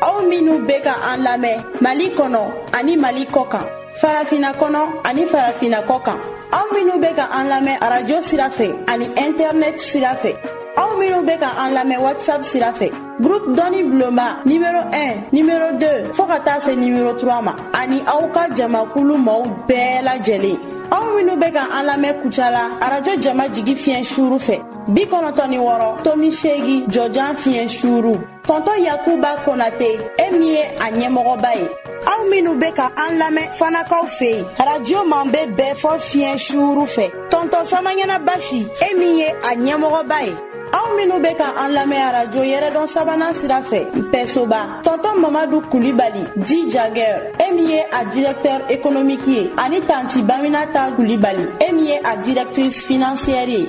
aw minnu bɛ ka an lamɛn mali kɔnɔ ani mali kɔ kan farafina kɔnɔ ani farafina kɔ kan aw minnu bɛ ka an lamɛn arajo sira fɛ ani ɛntɛrnɛt sira fɛ aw minnu bɛ ka an lamɛn whatsapp sira fɛ groupe dɔnni bulonba nimero 1 nimero 2 fɔɔ ka taa se nimero 3 ma ani aw ka jamakulu maaw bɛɛ lajɛlen aw minnu bɛ ka an lamɛn kucala arajo jama jigi fiɲɛ suuru fɛ bi kɔnɔtɔ ni wɔɔrɔ tomi seegi jɔjan fiɲɛ suuru tɔntɔ yakuba konate e min ye a ɲɛmɔgɔba ye aw minnu bɛ ka an lamɛn fanakaw fɛ yen radio man bɛ bɛɛ fɔ fiɲɛ suuru fɛ tɔntɔ samaɲana basi e min ye a ɲɛmɔgɔba ye aw minnu bɛ ka an lamɛn arajo yɛrɛdɔn sabanan sira fɛ pɛsoba tɔntɔ mamadu kulibali dit jagɛr e min ye a directeur économique ye ani tanti baminata kulibali e min ye a directrice financière ye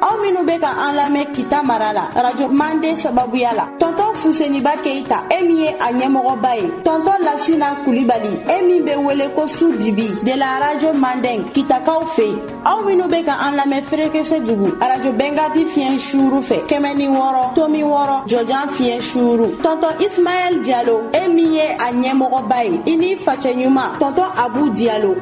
aw minnu bɛ ka an lamɛn kita mara la radio mande sababuya la tɔntɔn fuseniba keita e min ye a ɲɛmɔgɔba ye tɔntɔn lasina kulibali e min bɛ wele ko su dibi de la radio manden kitakaw fɛ yen aw minnu bɛ ka an lamɛn ferekesedugu radio bɛnkadi fiɲɛ suuru fɛ kɛmɛ ni wɔɔrɔ tomi wɔɔrɔ jɔjan fiɲɛ suuru tɔntɔn ismaɛl jalo e min ye a ɲɛmɔgɔba ye i ni facɛ ɲuman tɔntɔn abu jalo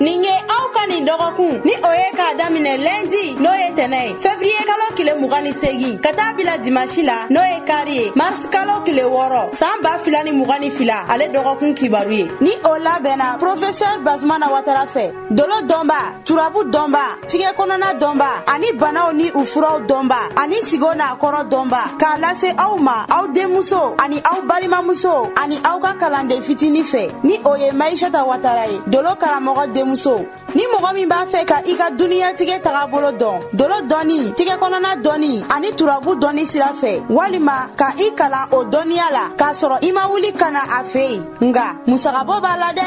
nin ye aw ka nin dɔgɔkun ni o ye k'a daminɛ lɛndi n'o ye tɛnɛ ye fevriye kalo kile mugan ni segin ka taa bila dimansi la n'o ye kari ye mars kalo kile wɔɔrɔ saan ba fila ni mugan ni fila ale dɔgɔkun kibaru ye ni o labɛnna profesɛr bazumana watara fɛ dolo dɔnba turabu dɔnba tigɛ kɔnɔna dɔnba ani banaw ni u furaw dɔnba ani sigo n'a kɔrɔ dɔnba k'a lase aw ma aw denmuso ani aw balimamuso ani aw ka kalanden fitini fɛ ni o ye mayisata watara ye dolo karamɔgɔ denmuso ni mɔgɔ min b'a fɛ ka i ka duniyatigɛ tagabolo dɔn dolo dɔnni tigɛ kɔnɔna dɔnni ani turabu dɔnni sira fɛ walima ka i kalan o dɔnniya la k'a sɔrɔ i ma wuli ka na a fɛ yen nka musagabɔ b'a la dɛ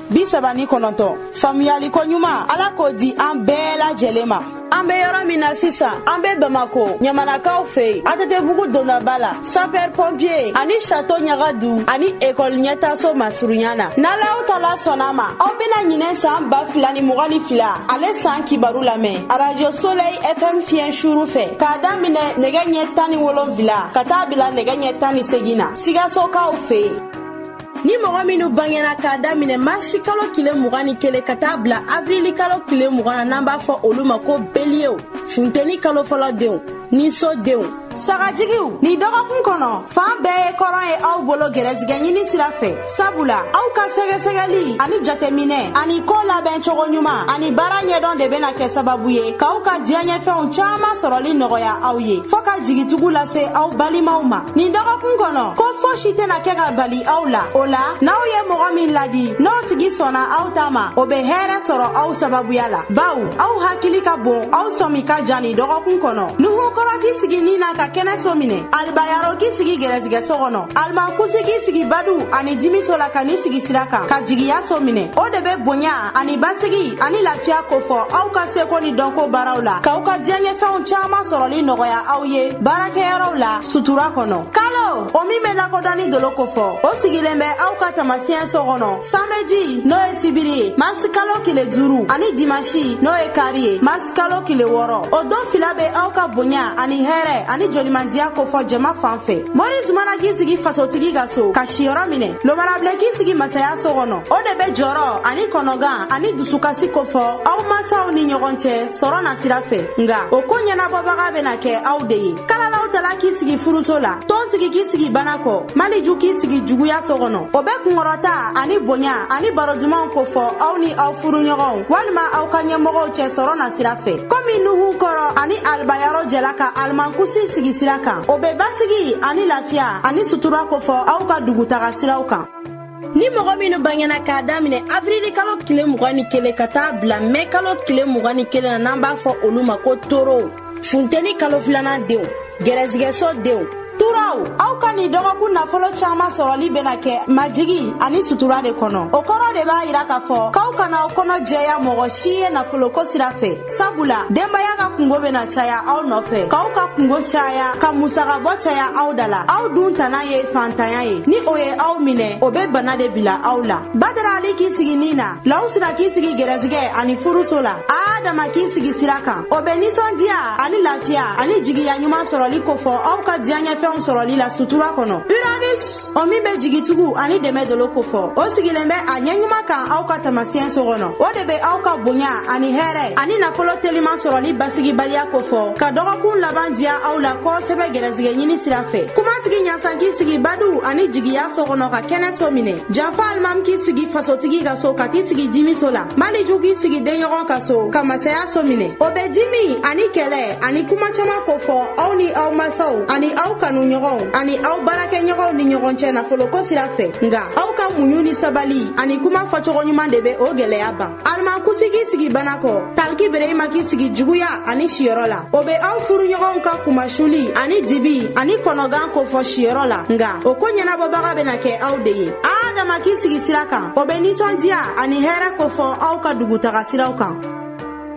bi saba ni kɔnɔntɔn faamuyaliko ɲuman ala k'o di an bɛɛ lajɛlen ma an be yɔrɔ min na sisan an be bamako ɲamanakaw fɛ yen atetebugu dondaba la sapɛr pɔnpiye ani sato ɲaga du ani ekɔli ɲɛtaso masurunya na n'alahu taala sɔnn'a ma aw bena ɲinɛ saan ba fila ni mugan ni fila ale saan kibaru lamɛn arajo solɛyi fm fiɲɛ suuru fɛ k'a daminɛ nɛgɛ ɲɛ tan ni wolonfila ka taa bila nɛgɛ ɲɛ tan ni segin na sigasokaw fɛ yen ni mɔgɔ minnu bangena k'a daminɛ marisi kalo tile mugan ni kelen ka taa bila avrili kalo tile mugan na n'an b'a fɔ olu ma ko beliyew funteni kalo fɔlɔ denw ni so denw sagajigiw nin dɔgɔkun kɔnɔ fan bɛɛ ye kɔrɔn ye aw bolo gɛrɛsigɛ ɲini sira fɛ sabula aw ka sɛgɛsɛgɛli ani jateminɛ ani koo labɛn cogo ɲuman ani baara ɲɛdɔn de bena kɛ sababu ye k'aw ka diyaɲɛfɛnw caaman sɔrɔli nɔgɔya aw ye fɔɔ ka jigitugu lase aw balimaw ma nin dɔgɔkun kɔnɔ ko fosi tɛna kɛ ka bali aw la o la n'aw ye mɔgɔ min ladi n'o tigi sɔnna aw ta ma o bɛ hɛrɛ sɔrɔ aw sababuya la baw aw hakili ka bon aw sɔmi ka jan nin dɔgɔkun kɔnɔ nuhu kɔrɔ k'i sigi ni na ka kɛnɛ so minɛ alibayaro k'i sigi gɛrɛsigɛ so kɔnɔ alimankusi k'i sigi badu ani dimiso la ka n'i sigi sira kan ka jigiya so minɛ o de bɛ bonya ani basigi ani lafiya kofɔ aw ka seko ni dɔnko baaraw la k'aw ka diyaɲɛfɛnw caaman sɔrɔli nɔgɔya aw ye baarakɛyɔrɔw la sutura kɔnɔ kalo o min be lakodɔnni dolo kofɔ o sigilen bɛ aw ka tamasiyɛn so kɔnɔ samedi n'o ye sibiri ye marisi kalo kile duuru ani dimansi n'o ye kari ye kalo kile wɔɔrɔ o don fila bɛ aw ka bonya ani hɛrɛ ani jolimandiya kofɔ jama fan fɛ mori zumana k'i sigi fasotigi ka so ka siyɔrɔ minɛ lomarabile k'i sigi masaya so kɔnɔ o de bɛ jɔrɔ ani kɔnɔgan ani dusukasi kofɔ aw masaw ni ɲɔgɔn cɛ sɔrɔ na sira fɛ nga o ko ɲɛnabɔbaga bɛna kɛ aw de ye kalalaw tala k'i sigi furuso la tɔntigi k'i sigi bana kɔ maliju k'i sigi juguya so kɔnɔ o bɛ kunkɔrɔta ani bonya ani baro dumanw kofɔ aw ni aw furuɲɔgɔnw walima aw ka ɲɛmɔgɔw cɛ sɔrɔ na sira fɛ komi nuhu kɔrɔ ani alibayaro jɛla ka alimankusi sigi sira kan o bɛ basigi ani lafiya ani sutura kofɔ aw ka dugutaga siraw kan ni mɔgɔ minnu bangena k'a daminɛ avrili kalo kile mugan ni kelen ka taa bila mɛ kalo kile mugan ni kelen na n'an b'a fɔ olu ma ko toro funteni kalo filanan denw gɛrɛsigɛso denw turaw aw ka nin dɔgɔkun nafolo caaman sɔrɔli bena kɛ majigi ani sutura de kɔnɔ o kɔrɔ de b'a yira k'a fɔ k'aw kana aw kɔnɔ jɛya mɔgɔ si ye nafoloko sira fɛ sabula denbaya ka kungo bena caya aw nɔfɛ k'aw ka kungo caya ka musagabɔ caya aw da la aw dun tana ye fantanya ye ni o ye aw minɛ o be bana de bila aw la badara ali k'i sigi ni na lawusina k'i sigi gɛrɛsigɛ ani furuso la adama k'i sigi sira kan o bɛ ninsɔndiya ani lafiya ani jigiya ɲuman sɔrɔli kofɔ aw ka diyaɲɛfɛnw sɔrɔli la sutura kɔnɔ uranus o min bɛ jigitugu ani dɛmɛ dolo kofɔ o sigilen bɛ a ɲɛ ɲuman kan aw ka tamasiyɛn so kɔnɔ o de bɛ aw ka bonya ani hɛrɛ ani nafolo teliman sɔrɔli basigibaliya kofɔ ka dɔgɔkun laban diya aw la kosɛbɛ gɛrɛsigɛ ɲini sira fɛ kumatigi ɲasan k'i sigi badu ani jigiya so kɔnɔ ka kɛnɛ so minɛ janfa alimami k'i sigi fasotigi ka so ka t'i sigi jimiso la maliju k'i sigi denɲɔgɔn ka so ka masaya so minɛ o bɛ jimi ani kɛlɛ ani kuma caman kofɔ aw ni aw masaw ani aw kanu ɲɔgɔnw ani aw baarakɛɲɔgɔnw ni ɲɔgɔn cɛ nafoloko sira fɛ nga aw ka muɲu ni sabali ani kuma fɔcogo ɲuman de bɛ o gɛlɛya ban alimankusi k'i sigi bana kɔ taliki bereyima k'i sigi juguya ani siyɔrɔ la o be aw furuɲɔgɔnw ka kumasuli ani dibi ani kɔnɔgan kofɔ siyɔrɔ la nga o ko ɲɛnabɔbaga bena kɛ aw de ye adama k'i sigi sira kan o be ninsɔndiya ani hɛrɛ kofɔ aw ka dugutaga siraw kan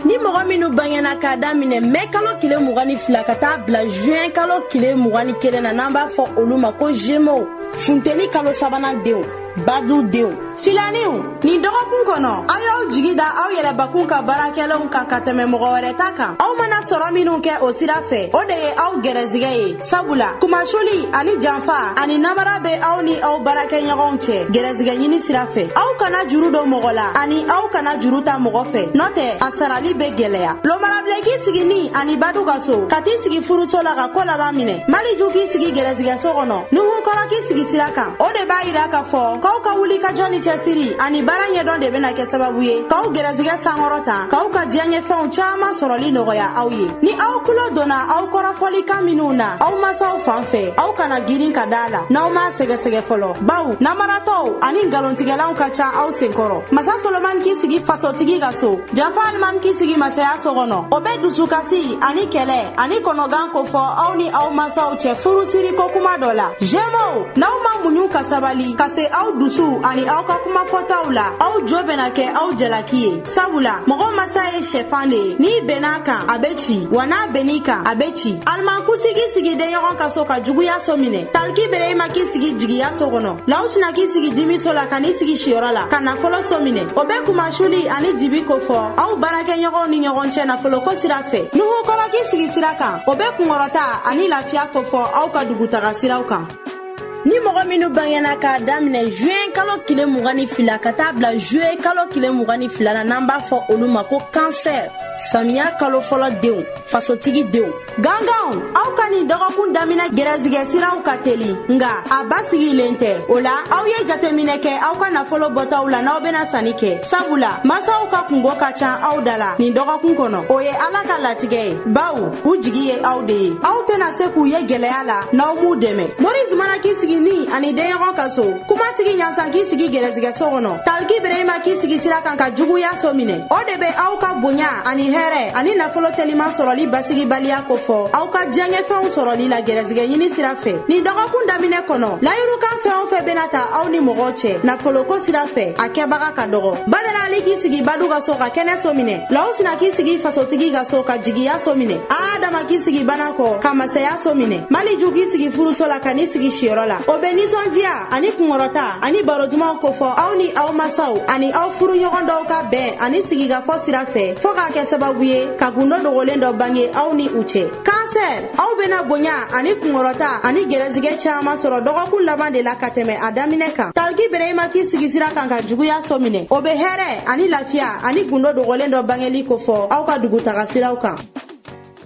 ni mɔgɔ minnu bangena k'a daminɛ mɛ kalo kile mugan ni fila ka taa bila juin kalo kile mugan ni kelen na n'an b'a fɔ olu ma ko gémeaux funteni kalo sabanan denw badu denw filaniw nin dɔgɔkun kɔnɔ aw y'aw jigi da aw yɛrɛbakun ka baarakɛlenw kan ka tɛmɛ mɔgɔ wɛrɛ ta kan aw mana sɔrɔ minw kɛ o sira fɛ o de ye aw gɛrɛsigɛ ye sabula kumasuli ani janfa ani namara bɛ aw ni aw baarakɛɲɔgɔnw cɛ gɛrɛsigɛ ɲini sira fɛ aw kana juru don mɔgɔ la ani aw kana juru ta mɔgɔ fɛ n'o tɛ a sarali bɛ gɛlɛya lomara bilen k'i sigi ni ani badu ka so ka t'i sigi furuso la ka ko laban minɛ maliju k'i sigi gɛrɛsigɛ so kɔnɔ nuhu kɔrɔ k'i sigi sira kan o de b'a yira k'a fɔ k'aw ka wulikajɔ ni cɛsiri ani baara ɲɛdɔn de bɛna kɛ sababu ye k'aw gɛrɛsigɛ sankɔrɔta k'aw ka diyaɲɛfɛnw caaman sɔrɔli nɔgɔya aw ye ni aw kulo donna aw kɔrɔfɔlikan minw na aw masaw fan fɛ aw kana girin ka d'a la n'aw m'a sɛgɛsɛgɛ fɔlɔ baw namaratɔw ani nkalontigɛlaw ka ca aw senkɔrɔ masa solomani k'i sigi fasotigi ka so janfa alimami k'i sigi masaya so kɔnɔ o bɛ dusukasi ani kɛlɛ ani kɔnɔgan kofɔ aw ni aw masaw cɛ furusiri ko kuma dɔ la gémeaux n'aw ma muɲu ka sabali ka se aw dusu ani aw ka kuma fɔtaw la aw jo bɛna kɛ aw jalaki ye sabula mɔgɔ masa ye sɛfan de ye n'i benn'a kan a bɛ ci wa n'a benn'i kan a bɛ ci alimankusi k'i sigi denɲɔgɔn ka so ka juguya so minɛ taliki bereyima k'i sigi jigiya so kɔnɔ lawusina k'i sigi dimiso la ka n'i sigi siyɔrɔ la ka nafolo so minɛ o bɛ kumasuli ani dibi kofɔ aw baarakɛɲɔgɔnw ni ɲɔgɔn cɛ nafoloko sira fɛ nuhu kɔrɔ k'i sigi sira kan o bɛ kunkɔrɔta ani lafiya kofɔ aw ka dugutaga siraw kan ni mɔgɔ minnu bangena k'a daminɛ juin kalo tile mugan ni fila ka taa bila juillet kalo tile mugan ni fila na n'an b'a fɔ olu ma ko cancer samiya kalo fɔlɔ denw fasotigi denw ganganw aw ka nin dɔgɔkun daminɛ gɛrɛsigɛ siraw ka teli nga a basigilen tɛ o la aw ye jateminɛ kɛ aw ka nafolo bɔtaw la n'aw bena sanni kɛ sabula masaw ka kunko ka can aw da la nin dɔgɔkun kɔnɔ o ye ala ka latigɛ ye baw u jigi ye aw de ye aw tena se k'u ye gwɛlɛya la n'aw m'u dɛmɛ mori zumana k'i sigi ni ani denɲɔgɔn ka so kumatigi ɲansan k'i sigi gɛrɛsigɛ so kɔnɔ taliki bereyima k'i sigi sira kan ka juguya so minɛ o de bɛ aw ka bonya ani hɛrɛ ani nafolo teliman sɔrɔli basigibaliya kofɔ aw ka diyaɲɛfɛnw sɔrɔli la gɛrɛsigɛ ɲini sira fɛ nin dɔgɔkun daminɛ kɔnɔ layirukan fɛn o fɛn bɛna ta aw ni mɔgɔw cɛ nafoloko sira fɛ a kɛbaga ka dɔgɔ badara ali k'i sigi badu ka so ka kɛnɛ so minɛ lawusina k'i sigi fasotigi ka so ka jigiya so minɛ adama k'i sigi bana kɔ ka masaya so minɛ maliju k'i sigi furuso la ka n'i sigi siyɔrɔ la o bɛ nisɔndiya ani kunkɔrɔta ani baro dumanw kofɔ aw ni aw masaw ani aw furuɲɔgɔn dɔw ka bɛn ani sigikafɔ sira fɛ fɔɔ k'a kɛ sababu ye ka gundo dogolen dɔ bange aw ni u cɛ kansɛr aw bena bonya ani kunkɔrɔta ani gɛrɛsigɛ caaman sɔrɔ dɔgɔkun laban de la ka tɛmɛ a daminɛ kan taliki bereyima k'i sigi sira kan ka juguya so minɛ o be hɛrɛ ani lafiya ani gundo dogolen dɔ bangeli kofɔ aw ka dugutaga siraw kan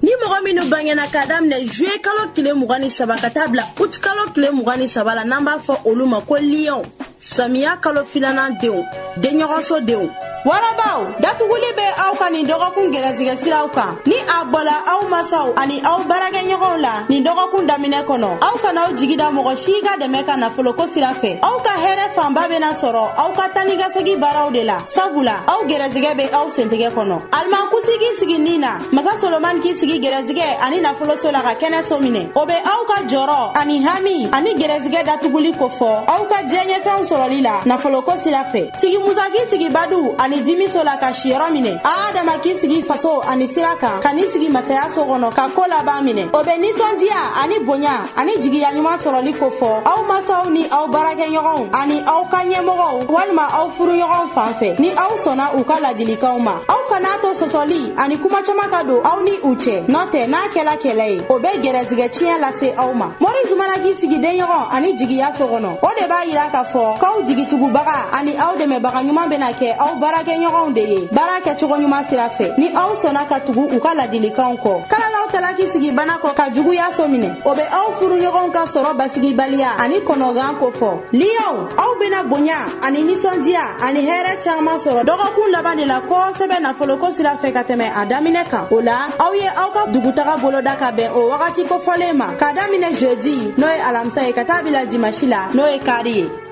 ni mɔgɔ minnu bangena k'a daminɛ juye kalo tile mugan ni saba ka taa bila ut kalo tile mugan ni saba la n'an b'a fɔ olu ma ko liyɔnw samiya kalo filanan denw denɲɔgɔnso denw warabaw datuguli bɛ aw ka nin dɔgɔkun gɛrɛsigɛ siraw kan ni a bɔla aw masaw ani aw baarakɛɲɔgɔnw la nin dɔgɔkun daminɛ kɔnɔ aw kana aw jigi da mɔgɔ si ka dɛmɛ kan nafoloko sira fɛ aw ka hɛrɛ fanba bɛna sɔrɔ aw ka taanikasegi baaraw de la sabula aw gɛrɛsigɛ bɛ aw sentɛgɛ kɔnɔ alimankusi k'i sigi nin na masa solomani k'i sigi gɛrɛsigɛ ani nafoloso la ka kɛnɛso minɛ o bɛ aw ka jɔrɔ ani hami ani gɛrɛsigɛ datuguli kofɔ aw ka diyaɲɛfɛnw sɔrɔli la nafoloko sira fɛ sigi musa k'i sigi badu ani dimiso la ka siyɔrɔ minɛ adama k'i sigi faso ani sira kan ka n'i sigi masaya so kɔnɔ ka ko laban minɛ o bɛ nisɔndiya ani bonya ani jigiya ɲuman sɔrɔli kofɔ aw masaw ni aw baarakɛɲɔgɔnw ani aw ka ɲɛmɔgɔw walima aw furuɲɔgɔnw fan fɛ ni aw sɔnna u ka ladilikanw ma aw kan'a to sɔsɔli ani kuma caman ka don aw ni u cɛ n'o tɛ n'a kɛla kɛlɛ ye o bɛ gɛrɛsigɛ tiɲɛ lase aw ma mori zumana k'i sigi denɲɔgɔn ani jigiya so kɔnɔ o de b'a yira k'a fɔ k'aw jigitugubaga ani aw dɛmɛbaga ɲuman bɛna kɛ aw baarakɛɲɔgɔnw de ye baara kɛcogo ɲuman sira fɛ ni aw sɔnna ka tugu u ka ladilikanw kɔ kalalaw k'i sigi bana kɔ ka juguya so minɛ o bɛ aw furuɲɔgɔnw ka sɔrɔ basigibaliya ani kɔnɔgan kofɔ liyɔn aw bena bonya ani ninsɔndiya ani hɛrɛ caaman sɔrɔ dɔgɔkun laban de la kosɛbɛ nafoloko sira fɛ ka tɛmɛ a daminɛ kan o la aw ye aw ka dugutaga boloda ka bɛn o wagati kofɔlen ma k'a daminɛ jeudi n'o ye alamisa ye ka taa bila dimasi la n'o ye kari ye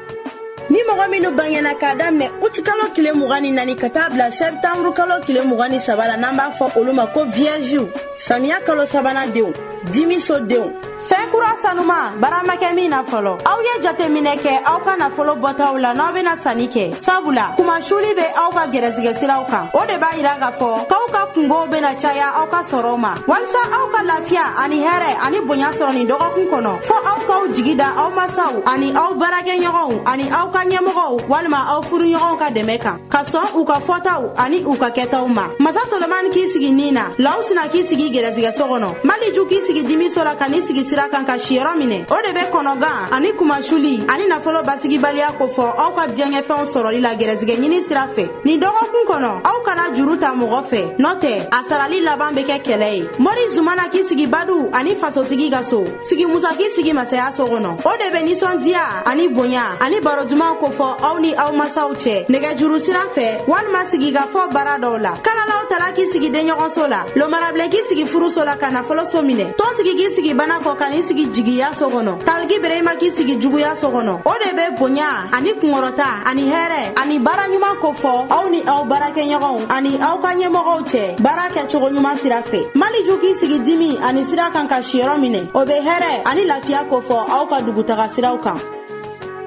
ni mɔgɔ minnu bangena k'a daminɛ utikalo kile mugan ni naani ka taa bila sɛptanburu kalo kile mugan ni saba la n'an b'a fɔ olu ma ko viyɛrziw samiya kalo sabanan denw dimiso denw fɛn kura sanuman baara ma kɛ min na fɔlɔ aw ye jateminɛ kɛ aw ka nafolo bɔtaw la n'aw bena sanni kɛ sabula kunmasuli be aw ka gɛrɛsigɛ siraw kan o de b'a yira k'a fɔ k'aw ka kunkow bena caya aw ka sɔrɔw ma walisa aw ka lafiya ani hɛrɛ ani bonya sɔrɔ nin dɔgɔkun kɔnɔ fɔ aw k'aw jigi da aw masaw ani aw baarakɛɲɔgɔnw ani aw ka ɲɛmɔgɔw walima aw furuɲɔgɔnw ka dɛmɛ kan ka sɔn u ka fɔtaw ani u ka kɛtaw ma masa solomani k'i sigi nin na lawusina k'i sigi gɛrɛsigɛso kɔnɔ maliju k'i sigi dimiso la ka n'i sigi sira kan ka siyɔrɔ minɛ o de bɛ kɔnɔgan ani kunmasuli ani nafolo basigibaliya kofɔ aw ka diyaɲɛfɛnw sɔrɔli la gɛrɛsigɛ ɲini sira fɛ nin dɔgɔkun kɔnɔ aw kana juru ta mɔgɔ fɛ n'o tɛ a sarali laban bɛ kɛ kɛlɛ ye mori zumana k'i sigi badu ani fasotigi ka so sigi musa k'i sigi masaya so kɔnɔ o de bɛ nisɔndiya ani bonya ani baro dumanw kofɔ aw ni aw masaw cɛ nɛgɛjuru sira fɛ walima sigikafɔ baara dɔw la kalalaw tala k'i sigi denɲɔgɔnso la lomarabilen k'i sigi furuso la ka nafolo so minɛ tɔntigi k'i sigi bana kɔ ka n'i sigi jigiya so kɔnɔ taliki berema k'i sigi juguya so kɔnɔ o de bɛ bonya ani kunkɔrɔta ani hɛrɛ ani baara ɲuman kofɔ aw ni aw baarakɛɲɔgɔnw ani aw ka ɲɛmɔgɔw cɛ baarakɛcogo ɲuman sira fɛ maliju k'i sigi dimi ani sira kan ka siyɔrɔ minɛ o bɛ hɛrɛ ani lafiya kofɔ aw ka dugutaga siraw kan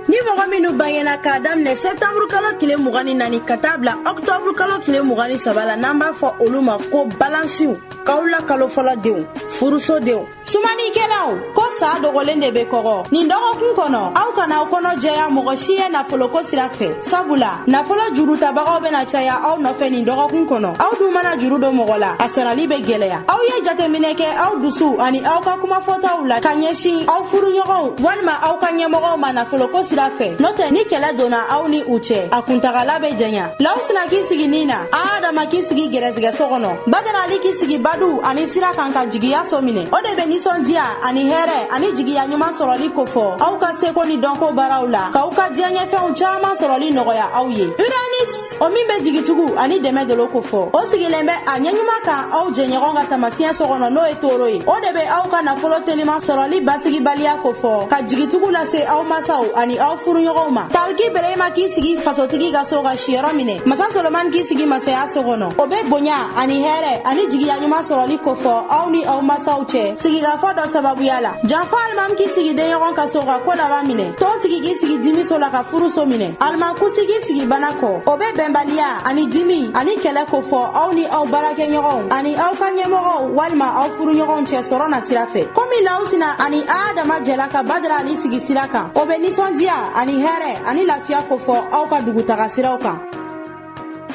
ni mɔgɔ minnu bangena k'a daminɛ sɛptanburu kalo tile mugan ni naani ka taa bila ɔktɔburu kalo tile mugan ni saba la n'an b'a fɔ olu ma ko balansiw kawula kalo fɔlɔ denw furuso denw sumanikɛlaw ko sa dogolen de be kɔgɔ nin dɔgɔkun kɔnɔ aw kana aw kɔnɔ jɛya mɔgɔ si ye nafoloko sira fɛ sabula nafolo jurutabagaw bena caya aw nɔfɛ nin dɔgɔkun kɔnɔ aw dun mana juru don mɔgɔ la a sarali be gwɛlɛya aw ye jateminɛ kɛ aw dusu ani aw ka kumafɔtaw la ka ɲɛsin aw furuɲɔgɔnw walima aw ka ɲɛmɔgɔw ma nafoloko sira fɛ n'o tɛ ni kɛlɛ donna aw ni u cɛ a kuntagala be janya lawusina k'i sigi ni na adama k'i sigi gɛrɛsigɛ so kɔnɔ badara ali k'i sigi badu ani sira kan ka jigiya so minɛ o de bɛ nisɔndiya ani hɛrɛ ani jigiya ɲuman sɔrɔli kofɔ aw ka seko ni dɔnko baaraw la k'aw ka diyaɲɛfɛnw caman sɔrɔli nɔgɔya aw ye uranus o min bɛ jigitugu ani dɛmɛ dolo kofɔ o sigilen bɛ a ɲɛɲuman kan aw jɛɲɔgɔn ka tamasiyɛn so kɔnɔ n'o ye toro ye o de bɛ aw ka nafolo teliman sɔrɔli basigibaliya kofɔ ka jigitugu lase aw masaw ani aw furuɲɔgɔnw ma taliki berema k'i sigi fasotigi ka so ka siyɔrɔ minɛ masa solomani k'i sigi masaya so kɔnɔ o be bonya ani hɛrɛ ani jigiya ɲuman sɔrɔli kofɔ aw ni aw masaw cɛ sigikafɔ dɔ sababuya la janfa alimami k'i sigi denɲɔgɔn ka so ka ko laban minɛ tɔntigi k'i sigi dimi so la ka furuso minɛ alimankusi k'i sigi bana kɔ o be bɛnbaliya ani dimi ani kɛlɛ kofɔ aw ni aw baarakɛɲɔgɔnw ani aw ka ɲɛmɔgɔw walima aw furuɲɔgɔnw cɛ sɔrɔ na sira fɛ komi lawusina ani a dama jɛla ka badara ali sigi sira kan o bɛ nisɔndiya ani hɛrɛ ani lafiya kofɔ aw ka dugutaga siraw kan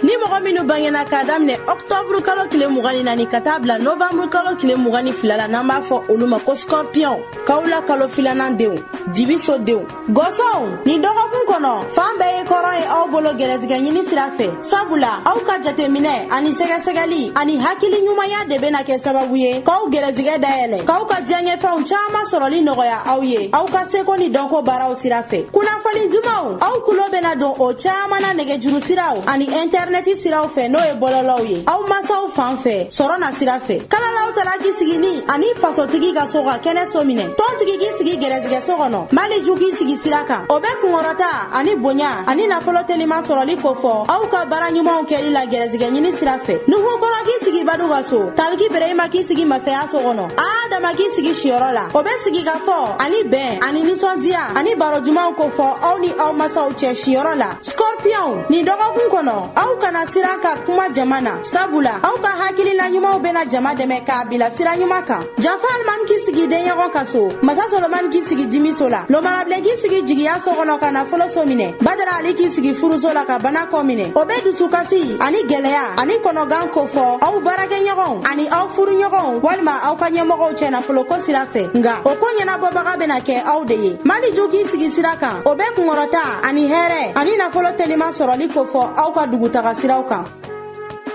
ni mɔgɔ minnu bangena k'a daminɛ ɔktɔburu kalo tile mugan ni naani ka taa bila novanburu kalo tile mugan ni fila la n'an b'a fɔ olu ma ko skɔrpiyɔn kawula kalo filanan denw dibiso denw gɔsɔnw nin dɔgɔkun kɔnɔ fan bɛɛ ye kɔrɔn ye aw bolo gɛrɛsigɛ ɲini sira fɛ sabula aw ka jateminɛ ani sɛgɛsɛgɛli ani hakili ɲumanya de bena kɛ sababu ye k'aw gɛrɛsigɛ dayɛlɛ k'aw ka diyaɲɛfɛnw caaman sɔrɔli nɔgɔya aw ye aw ka seko ni dɔnko baaraw sira fɛ kunnafoni dumanw aw kulo bena don o caaman na nɛgɛjuru siraw ani ɛntɛrinɛti siraw fɛ n'o ye bɔlɔlɔw ye aw masaw fan fɛ sɔrɔ na sira fɛ kalalaw tala k'i sigi ni ani fasotigi ka so ka kɛnɛ so minɛ tɔntigi k'i sigi gɛrɛsigɛ so kɔnɔ maliju k'i sigi sira kan o bɛ kunkɔrɔta ani bonya ani nafolo teliman sɔrɔli kofɔ aw ka baara ɲumanw kɛli la gɛrɛsigɛ ɲini sira fɛ nuhu kɔrɔ k'i sigi badu ka so taliki bereyima k'i sigi masaya so kɔnɔ adama k'i sigi siyɔrɔ la o bɛ sigi ka fɔ ani bɛn ani nisɔndiya ani baro jumanw kofɔ aw ni aw masaw cɛ siyɔrɔ la scorpion nin dɔgɔkun kɔnɔ aw kana siran ka kuma jama na sabula aw ka hakilina ɲumanw bɛna jama dɛmɛ k'a bila sira ɲuman kan Janfa Alimami k'i sigi denɲɔgɔn ka so. Masa Solomani k'i sigi dimiso la. Lomarabilen k'i sigi jigiya so kɔnɔ ka nafolo so minɛ. Badara Ali k'i sigi furuso la ka bana kɔ minɛ. O bɛ dusukasi ani gɛlɛya ani kɔnɔgan kofɔ aw baarakɛɲɔgɔnw ani aw furuɲɔgɔnw walima aw ka ɲɛmɔgɔw cɛ nafoloko sira fɛ. Nga o ko ɲɛnabɔbaga bɛna kɛ aw de ye. Maliju k'i sigi sira kan. O bɛ kunkɔrɔta ani hɛrɛ ani nafolo teliman sɔrɔli kofɔ aw ka dugutaga siraw kan.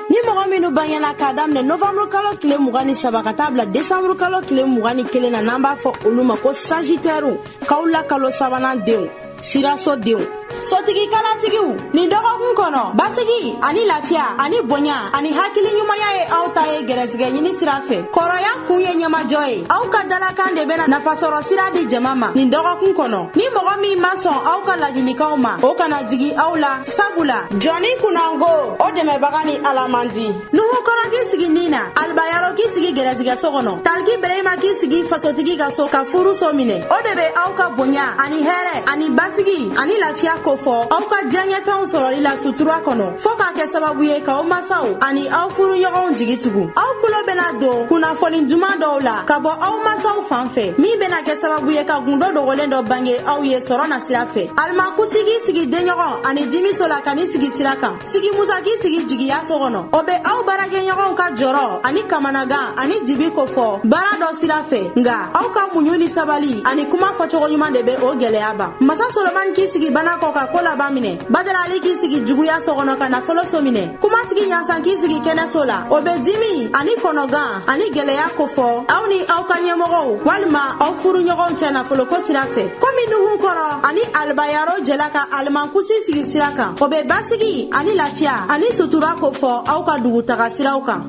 ni mɔgɔ minnu bangena k'a daminɛ novanburu kalo tile mugan ni saba ka taa bila desanburu kalo tile mugan ni kelen na n'an b'a fɔ olu ma ko sajitɛriw kawula kalo sabanan denw siraso denw sotigi kalatigiw nin dɔgɔkun kɔnɔ basigi ani lafiya ani bonya ani hakili ɲumanya ye aw ta ye gɛrɛsigɛ ɲini sira fɛ kɔrɔya kun ye ɲɛmajɔ ye aw ka dalakan de bɛna nafasɔrɔ sira di jama ma nin dɔgɔkun kɔnɔ ni mɔgɔ min ma sɔn aw ka lajilikanw ma o kana jigi aw la sabula jɔnni kunnango o dɛmɛbaga ni ala man di nuhukɔrɔ k'i sigi ni na alibayaro k'i sigi gɛrɛsigɛso kɔnɔ taliki berema k'i sigi fasotigi ka so ka furuso minɛ o de bɛ aw ka bonya ani hɛrɛ ani basigi ani lafiya kofɔ aw ka diyaɲɛfɛnw sɔrɔli la sutura kɔnɔ fɔɔ k'a kɛ sababu ye k'aw masaw ani aw furuɲɔgɔnw jigi tugu aw kulo bɛna don kunnafoni duman dɔw la ka bɔ aw masaw fan fɛ min bɛna kɛ sababu ye ka gundo dogolen dɔ bange aw ye sɔrɔ na sira fɛ alimankusi k'i sigi denɲɔgɔn ani dimiso la ka n'i sigi sira kan sigi musa k'i sigi jigiya so kɔnɔ o bɛ aw baarakɛɲɔgɔnw ka jɔrɔ ani kamanagan ani dibi kofɔ baara dɔ sira fɛ nga aw ka muɲu ni sabali ani kuma fɔcogo ɲuman de bɛ o gɛlɛya ban masa solomani k'i sigi bana kɔ ka ko laban minɛ badarali k'i sigi juguya so kɔnɔ ka nafolo so minɛ kumatigi ɲasan k'i sigi kɛnɛso la o bɛ dimi ani kɔnɔgan ani gɛlɛya kofɔ aw ni aw ka ɲɛmɔgɔw walima aw furuɲɔgɔnw cɛ nafoloko sira fɛ komi nuhu kɔrɔ ani alibayaro jɛla ka alimankusi sigi sira kan o bɛ basigi ani lafiya ani sutura kofɔ aw ka dugutaga siraw kan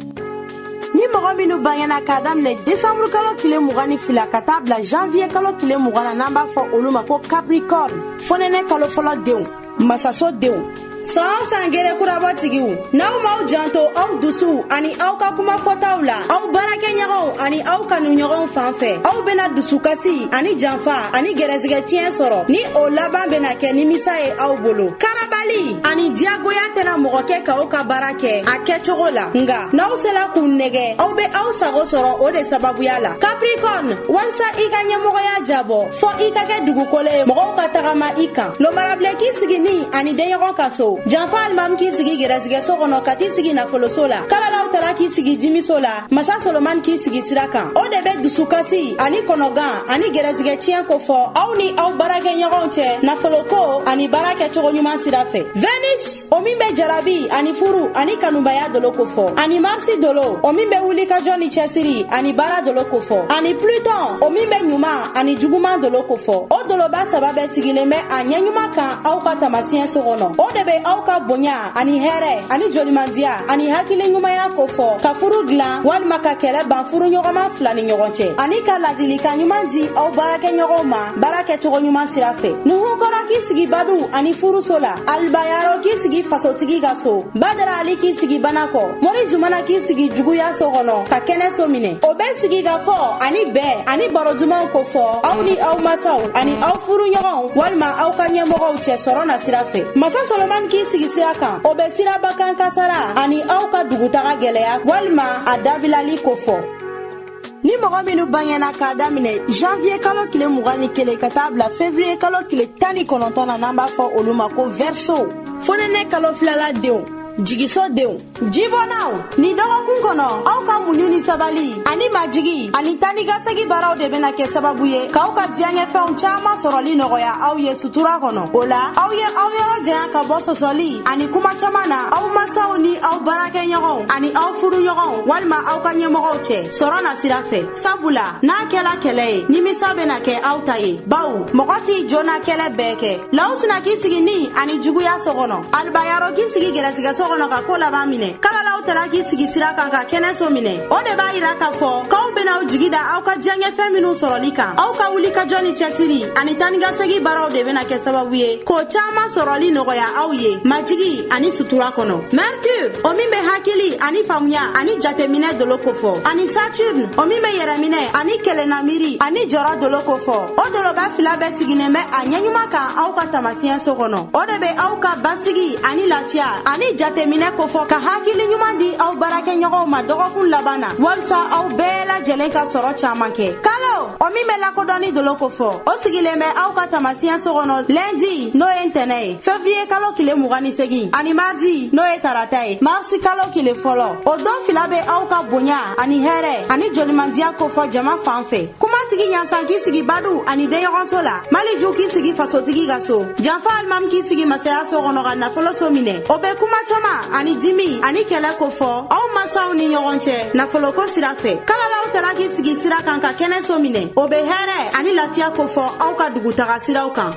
ni mɔgɔ minnu bangena k'a daminɛ desanburu kalo tile mugan ni fila ka taa bila janviye kalo tile mugan na n'an b'a fɔ olu ma ko capricorne fonɛnɛ kalo fɔlɔ denw masaso denw san san gere kurabɔtigiw n'aw m'aw janto aw dusuw ani aw ka kuma fɔtaw la aw baarakɛɲɔgɔnw ani aw kanuɲɔgɔnw fan fɛ aw bena dusukasi ani janfa ani gɛrɛsigɛ tiɲɛ sɔrɔ ni o laban bena kɛ nimisa ye aw bolo karabali ani diyagoya tɛna mɔgɔ kɛ k'aw ka baara kɛ a kɛcogo la nga n'aw sela k'u nɛgɛ aw be aw sago sɔrɔ o de sababuya la kaprikɔn walisa i ka ɲɛmɔgɔya jabɔ fɔ i ka kɛ dugukolo ye mɔgɔw ka tagama i kan lomarabilen k'i sigi ni ani denɲɔgɔn ka so janfa alimami k'i sigi gɛrɛsigɛso kɔnɔ ka t'i sigi nafoloso la kalalaw tara k'i sigi dimiso la masa solomani k'i sigi sira kan o de bɛ dusukasi ani kɔnɔgan ani gɛrɛsigɛ tiɲɛ kofɔ aw ni aw baarakɛɲɔgɔnw cɛ nafoloko ani baara kɛcogo ɲuman sira fɛ venus o min bɛ jarabi ani furu ani kanubaya dolo kofɔ ani marisi dolo o min bɛ wulikajɔ ni cɛsiri ani baara dolo kofɔ ani pluton o min bɛ ɲuman ani juguman dolo kofɔ o doloba saba bɛɛ sigilen bɛ a ɲɛɲuman kan aw ka tamasiɲɛ so kɔnɔ o de bɛ aw ka bonya ani hɛrɛ ani jolimandiya ani hakili ɲumanya kofɔ ka furu dilan walima ka kɛlɛ ban furuɲɔgɔnma fila ni ɲɔgɔn cɛ ani ka ladilikan ɲuman di aw baarakɛɲɔgɔnw ma baara kɛcogo ɲuman sira fɛ nuhu kɔrɔ k'i sigi badu ani furuso la alibayaro k'i sigi fasotigi ka so badara ali k'i sigi bana kɔ mori zumana k'i sigi juguya so kɔnɔ ka kɛnɛ so minɛ o bɛ sigi ka fɔ ani bɛn ani baro dumanw kofɔ aw ni aw masaw ani aw furuɲɔgɔnw walima aw ka ɲɛmɔgɔw cɛ sɔrɔ nasira fɛ masa solomani k'i sigi sira kan o bɛ siraba kan kasara ani aw ka dugutaga gɛlɛya walima a dabilali kofɔ ni mɔgɔ minnu bangena k'a daminɛ janviye kalo tile mugan ni kelen ka taa bila fevriye kalo tile tan ni kɔnɔntɔn na n'an b'a fɔ olu ma ko vɛriso fonɛnɛ kalo filala denw jigiso denw jibɔnnaw ni dɔgɔkun kɔnɔ aw ka muɲu ni sabali ani majigi ani tanikasegi baaraw de bena kɛ sababu ye k'aw ka diyaɲɛfɛnw caaman sɔrɔli nɔgɔya aw ye sutura kɔnɔ o la aw ye aw yɔrɔ janya ka bɔ sɔsɔli ani kuma caaman na aw masaw ni aw baarakɛɲɔgɔnw ani aw furuɲɔgɔnw walima aw ka ɲɛmɔgɔw cɛ sɔrɔ nasira fɛ sabula n'a kɛla kɛlɛ ye nimisa bena kɛ aw ta ye baw mɔgɔ t'i jo na kɛlɛ bɛɛ kɛ lawusina k'i sigi ni ani juguya so kɔnɔ alibayaro k'i sigi gɛrɛsigɛso kɔnɔ ka ko laban minɛ kalalaw tala k'i sigi sira kan ka kɛnɛso minɛ o de b'a yira k'a fɔ k'aw ben'aw jigi da aw ka diyaɲɛfɛn minw sɔrɔli kan aw ka wuli ka jɔ ni cɛsiri ani tanikasegi baaraw de bena kɛ sababu ye k'o caaman sɔrɔli nɔgɔya aw ye majigi ani sutura kɔnɔ Mercure o min bɛ hakili ani faamuya ani jateminɛ dolo kofɔ ani saturne o min bɛ yɛrɛminɛ ani kelenna miiri ani jɔrɔ dolo kofɔ o doloba fila bɛɛ sigilen bɛ a ɲɛɲuman kan aw ka tamasiɲɛ so kɔnɔ o de bɛ aw ka basigi ani lafiya ani jateminɛ kofɔ ka hakili ɲuman di aw baarakɛɲɔgɔnw ma dɔgɔkun laban na walisa aw bɛɛ lajɛlen ka sɔrɔ caman kɛ kalo o min bɛ lakodɔnni dolo kofɔ o sigilen bɛ aw ka tamasiɲɛ so kɔnɔ lundi n'o ye ntɛnɛ ye fevriye kalo kile mugan ni segin ani mardi n'o ye tarata ye marsi kalo kile fɔlɔ o don fila bɛ aw ka bonya ani hɛrɛ ani jolimandiya kofɔ jama fan fɛ kumatigi ɲansan k'i sigi badu ani denɲɔgɔnso la maliju k'i sigi fasotigi ka so janfa alimami k'i sigi masaya so kɔnɔ ka nafolo so minɛ o bɛ kuma caman ani dimi ani kɛlɛ kofɔ aw masaw ni ɲɔgɔn cɛ nafoloko sira fɛ kalalaw tara k'i sigi sira kan ka kɛnɛ so minɛ o bɛ hɛrɛ ani lafiya kofɔ aw ka dugutaga siraw kan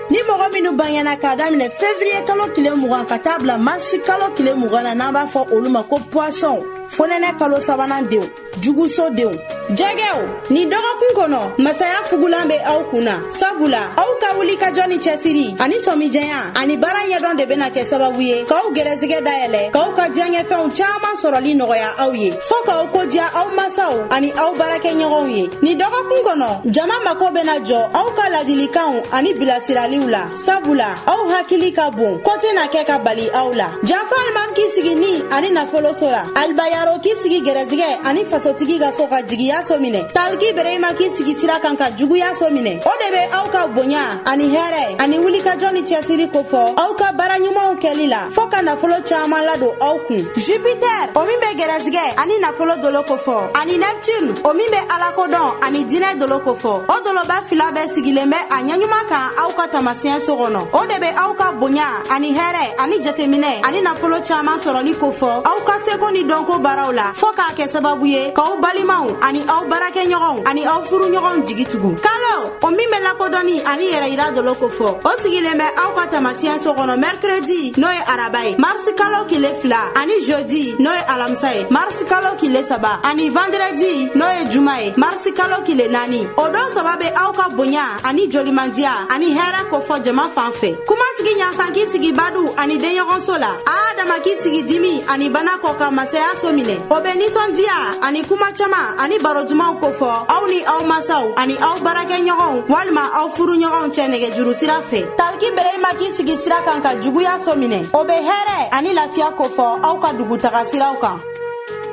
ni mɔgɔ minnu bangena k'a daminɛ fevriye kalo tile mugan ka taa bila marisi kalo tile mugan na n'an b'a fɔ olu ma ko puwasɔnw fonɛnɛ kalo sabanan denw juguso denw jɛgɛw nin dɔgɔkun kɔnɔ masaya fugulan bɛ aw kun na sabula aw ka wulikajɔ ni cɛsiri ani sɔmijɛya ani baara ɲɛdɔn de bɛna kɛ sababu ye k'aw gɛrɛsigɛ dayɛlɛ k'aw ka diyaɲɛfɛnw caaman sɔrɔli nɔgɔya aw ye fɔɔ k'aw ko diya aw masaw ani aw baarakɛɲɔgɔnw ye nin dɔgɔkun kɔnɔ jama mako bena jɔ aw ka ladilikanw ani bilasiraliw la sabula aw hakili ka bon ko tɛna kɛ ka bali aw la janfa alimami k'i sigi ni ani nafoloso la alibayaro k'i sigi gɛrɛsigɛ ani fasotigi ka so ka jigiya so minɛ taliki berehima k'i sigi sira kan ka juguya so minɛ o de be aw ka bonya ani hɛrɛ ani wulikajɔ ni cɛsiri kofɔ aw ka baara ɲumanw kɛli la fɔɔ ka nafolo caaman ladon aw kun jupitɛr o min be gɛrɛsigɛ ani nafolo dolo kofɔ ani nɛptin o min be alakodɔn ani diinɛ dolo kofɔ o doloba fila bɛɛ sigilen bɛ a ɲɛɲuman kan aw ka taamasiyɛn so kɔnɔ o de be aw ka bonya ani hɛrɛ ani jateminɛ ani nafolo caaman sɔrɔli kofɔ aw ka seko ni dɔnko baaraw la fɔɔ k'a kɛ sababu ye k'aw balimaw ani aw baarakɛɲɔgɔnw ani aw furuɲɔgɔnw jigi tugu kalo o min bɛ lakodɔnni ani yɛrɛyira dolo kofɔ o sigilen bɛ aw ka taamasiyɛn so kɔnɔ mɛrɛkredi n'o ye araba ye marisi kalo kile fila ani jeudi n'o ye alamisa ye marisi kalo kile saba ani vandrɛdi n'o ye juma ye marisi kalo kile naani o don saba bɛ aw ka bonya ani jolimandiya ani hɛrɛ kofɔ jama fan fɛ kumatigi ɲansan k'i sigi badu ani denɲɔgɔnso la adama k'i sigi dimi ani bana kɔ ka masaya so minɛ o bɛ nisɔndiya ani kuma caman ani baro dumanw kofɔ aw ni aw masaw ani aw baarakɛɲɔgɔnw walima aw furuɲɔgɔnw cɛ nɛgɛjuru sira fɛ taliki berehima k'i sigi sira kan ka juguya so minɛ o bɛ hɛrɛ ani lafiya kofɔ aw ka dugutaga siraw kan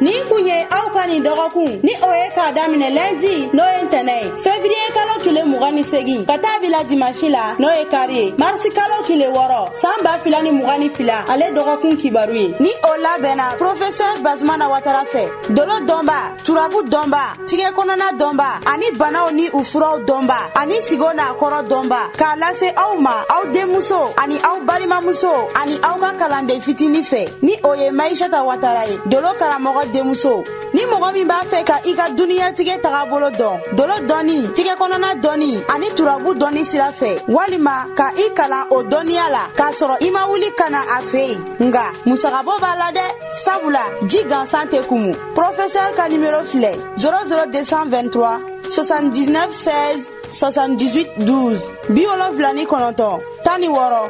nin kun ye aw ka nin dɔgɔkun ni o ye k'a daminɛ lɛndi n'o ye ntɛnɛ ye fevriye kalo kile mugan ni segin ka taa bila dimansi la n'o ye kari ye marisi kalo kile wɔɔrɔ san ba fila ni mugan ni fila ale dɔgɔkun kibaru ye ni o labɛnna profesɛr bazumana watara fɛ dolo dɔnba turabu dɔnba tigɛ kɔnɔna dɔnba ani banaw ni u furaw dɔnba ani sigo n'a kɔrɔ dɔnba k'a lase aw ma aw denmuso ani aw balimamuso ani aw ka kalanden fitini fɛ ni o ye maishata watara ye dolo karamɔgɔ denmuso ni mɔgɔ min b'a fɛ ka i ka duniyatigɛ tagabolo dɔn dolo dɔnni tigɛ kɔnɔna dɔnni ani turabu dɔnni sira fɛ walima ka i kalan o dɔnniya la k'a sɔrɔ i ma wuli ka na a fɛ yen nka musagabɔ b'a la dɛ sabula ji gansan tɛ kumu pɔrɔfesɛri ka nimero filɛ 00223 79 16 78 12 bi wolonfila ni kɔnɔntɔn tan ni wɔɔrɔ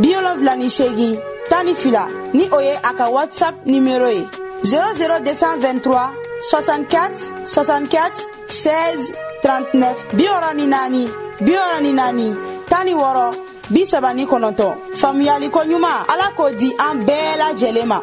bi wolonfila ni seegin tan ni fila ni o ye a ka whatsapp nimero ye 00 223 64 64 16 39 bi wɔɔrɔ ni naani bi wɔɔrɔ ni naani tan ni wɔɔrɔ bi saba ni kɔnɔntɔn faamuyali ko ɲuman ala k'o di an bɛɛ lajɛlen ma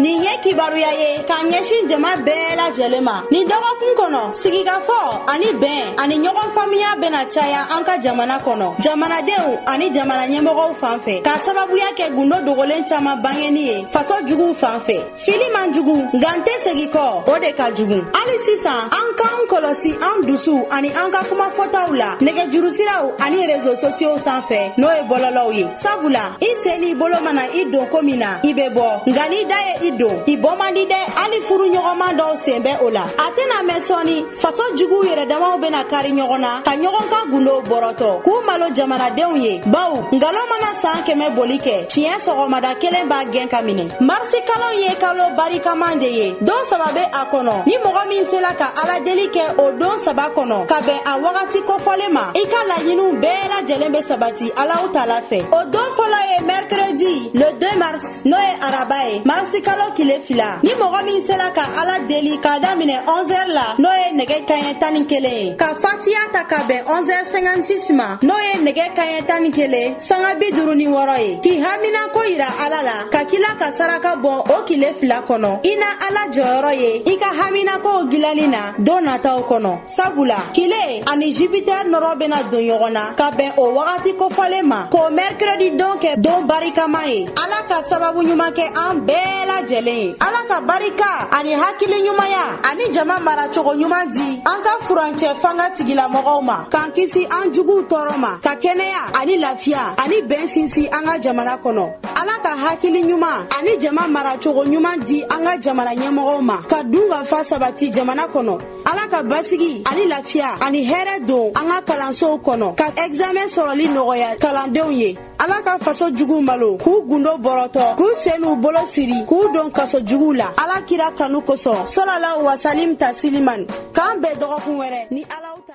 nin ye kibaruya ye k'a ɲɛsin jama bɛɛ lajɛlen ma nin dɔgɔkun kɔnɔ sigikafɔ ani bɛn ani ɲɔgɔn faamuya bɛna caya an ka jamana kɔnɔ jamanadenw ani jamana ɲɛmɔgɔw fan fɛ k'a sababuya kɛ gundo dogolen caman bangeni ye faso juguw fan fɛ fili man jugu nka n tɛ segi kɔ o de ka jugu hali sisan an k'an kɔlɔsi an dusu ani an ka kuma fɔtaw la nɛgɛjurusiraw ani rezo sosiyow san fɛ n'o ye bɔlɔlɔw ye sabula i sen n'i bolo mana i don ko min na i bɛ bɔ nka n'i da ye i don i bɔ man di dɛ hali furu ɲɔgɔnma dɔw sen bɛ o la a tɛna mɛn sɔɔni faso juguw yɛrɛdamaw bɛna kari ɲɔgɔn na ka ɲɔgɔn ka gundow bɔrɔtɔ k'u malo jamanadenw ye baw nkalon mana san kɛmɛ boli kɛ tiɲɛ sɔgɔmada kelen b'a gɛn k'a minɛ marisi kalo ye kalo barikaman de ye don saba bɛ a kɔnɔ ni mɔgɔ min sela ka aladeli kɛ o don saba kɔnɔ ka bɛn a wagati kofɔlen ma i ka laɲiniw bɛɛ lajɛlen bɛ sabati Alahu taala fɛ o don fɔlɔ ye mercredi le 2 mars n'o ye araba ye marisi kalo kile fila ni mɔgɔ min sera ka ala deli k'a daminɛ 11 heures la n'o ye nɛgɛ kaɲɛ tan ni kelen ye ka fatiya ta ka bɛn 11 heures 56 ma n'o ye nɛgɛ kaɲɛ tan ni kelen sanga bi duuru ni wɔɔrɔ ye k'i hamina ko yira ala la ka kila ka saraka bɔ o kile fila kɔnɔ i na ala jɔyɔrɔ ye i ka hamina kow gilani na don nataw kɔnɔ sabula kile ani jupiter nɔrɔ bɛna don ɲɔgɔn na ka bɛn o wagati kofɔlen ma k'o mercredi don kɛ don barikama ye ala ka sababu ɲuman kɛ an bɛɛ lajɛlen ye ala ka barika ani hakili ɲumanya ani jama maracogo ɲuman di an ka furancɛ fanga tigilamɔgɔw ma k'an kisi an juguw tɔɔrɔ ma ka kɛnɛya ani lafiya ani bɛn sinsin an ka jamana kɔnɔ ala ka hakili ɲuman ani jama maracogo ɲuman di an ka jamana ɲɛmɔgɔw ma ka dunkafa sabati jamana kɔnɔ ala ka basigi ani lafiya ani hɛrɛ don an ka kalansow kɔnɔ ka ɛgizamɛn sɔrɔli nɔgɔya kalandenw ye ala ka faso juguw malo k'u gundo bɔrɔtɔ k'u sen n'u bolo siri k'u don kaso juguw la ala kira kanu kosɔn sɔlala wasalim tasiliman k'an bɛn dɔgɔkun wɛrɛ ni alaw ta